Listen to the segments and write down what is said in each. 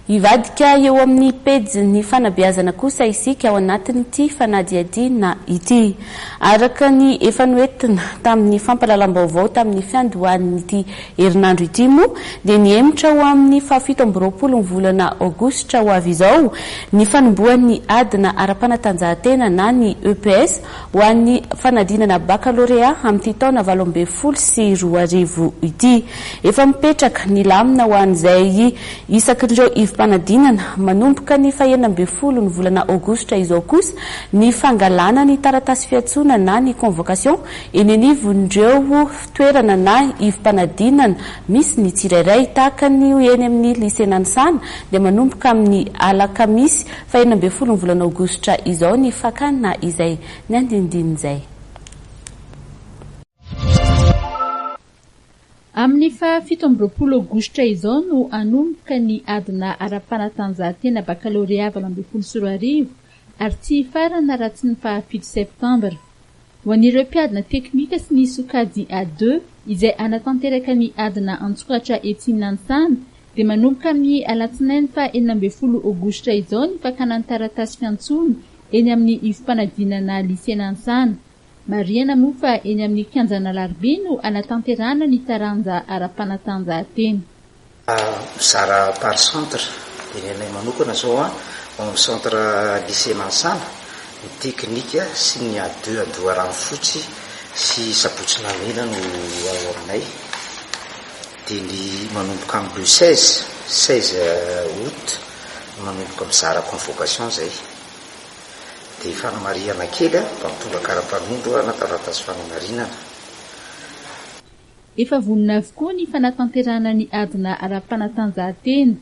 Hivadika eo amin'ny pejin'ny fanabeazana kosa isika ao anatin'ity fanadihadiana ity. Araka ny efa noentina tamin'ny fampahalalam-baovao tamin'ny fiandohan'ity herinandro ity moa dia nihemotra ho amin'ny fahafito amby roapolo ny volana aogositra ho avy izao ny fanombohan'ny adina ara-panatanjahantena na ny EPS ho an'ny fanadinana bakalorea amin'ity taona valo ambin'ny folo sy roa arivo ity. Efa mipetraka ny lamina ho an'izay isakin'ireo ivom-panadinana manomboka ny fahenina ambin'ny folo ny volana aogositra izao kosa ny fangalana ny taratasy fiantsoana na ny convocation eny anivon'ireo toerana na ivom-panadinana misy ny tsirairay. Tahaka ny eny amin'ny Lycée Nanisana dia manomboka amin'ny alakamisy Fahenina ambin'ny folo ny volana aogositra izao ny fakana izay ny andinindininy izay. Amin'ny faha fito amby roapolo aogositra izao no hanomboka ny adina ara-panatanjahantena bakalorea valo ambin'ny folo sy roa arivo ary tsy hifarana raha tsy ny faha fito septambra. Ho an'ireo mpiadina teknika sy ny sokajy A deux izay hanatanteraka ny adina an-tsokatra etsy Nansana dia manomboka amin'ny alatsinainy faha enina ambin'ny folo aogositra izao ny fakana ny taratasy fiantsoana eny amin'ny ivom-panadinana Lycée Nansana. Marihana moa fa eny amin'ny kianjan'Alarobia no hanatanterahana ny taranja ara-panatanjahantena. Mizara par centre dia ny anay manokana izao ao amin'ny centre lycée Mansana, ny teknika sy ny A deux Andoharanofotsy sy Sabotsy Namena no ao aminay. Dia ny manomboka amin'ny le seize, seize aout, no manomboka mizara convocation izay. Dia fanamarihana kely an, mba mitondra kara-panondro na taratasy fanamarinana. Efa vonona avokoa ny fanatanterahana ny adina ara-panatanjahantena.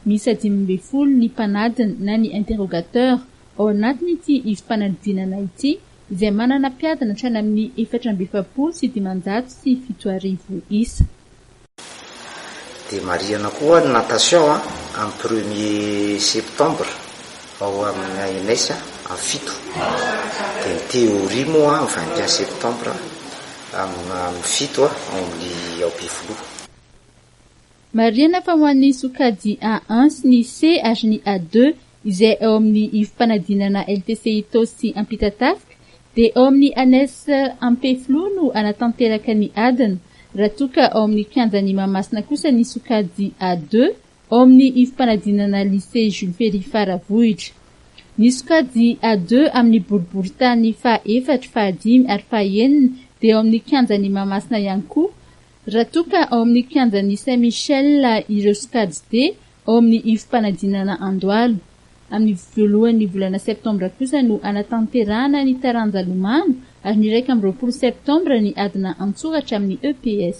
Miisa dimy ambin'ny folo ny mpanadina na ny interrogateurs ao anatin'ity ivom-panadinana ity izay manana mpiadina hatrany amin'ny efatra amby efapolo sy dimanjato sy fito arivo isa. Dia marihana koa ny natation amin'ny premier septembre. Ao amin'ny ANS a fito dia ny théorie moa ny vingt et un septembre amin'ny fito ao amin'ny ao Befiloha. Marihana fa ho an'ny sokajy A un sy ny C ary ny A deux izay ao amin'ny ivom-panadinana LTC Itaosy Ampitatafika dia ao amin'ny ANS Ampefiloha no hanatanteraka ny adina raha toa ka ao amin'ny kianjan'i Mahamasina kosa ny sokajy A deux ao amin'ny ivom-panadinana Lycée Jules Ferry Faravohitra. Ny sokajy A deux amin'ny boriborintany faha efatra, faha dimy ary faha enina dia ao amin'ny kianjan'i Mahamasina ihany koa, raha toa ka ao amin'ny kianjan'i Saint Michel ireo sokajy D ao amin'ny ivom-panadinana Andohalo. Amin'ny voalohan'ny volana septambra kosa no hanatanterahana ny taranja lomano ary ny iraika amby roapolo septambra ny adina an-tsoratra amin'ny EPS.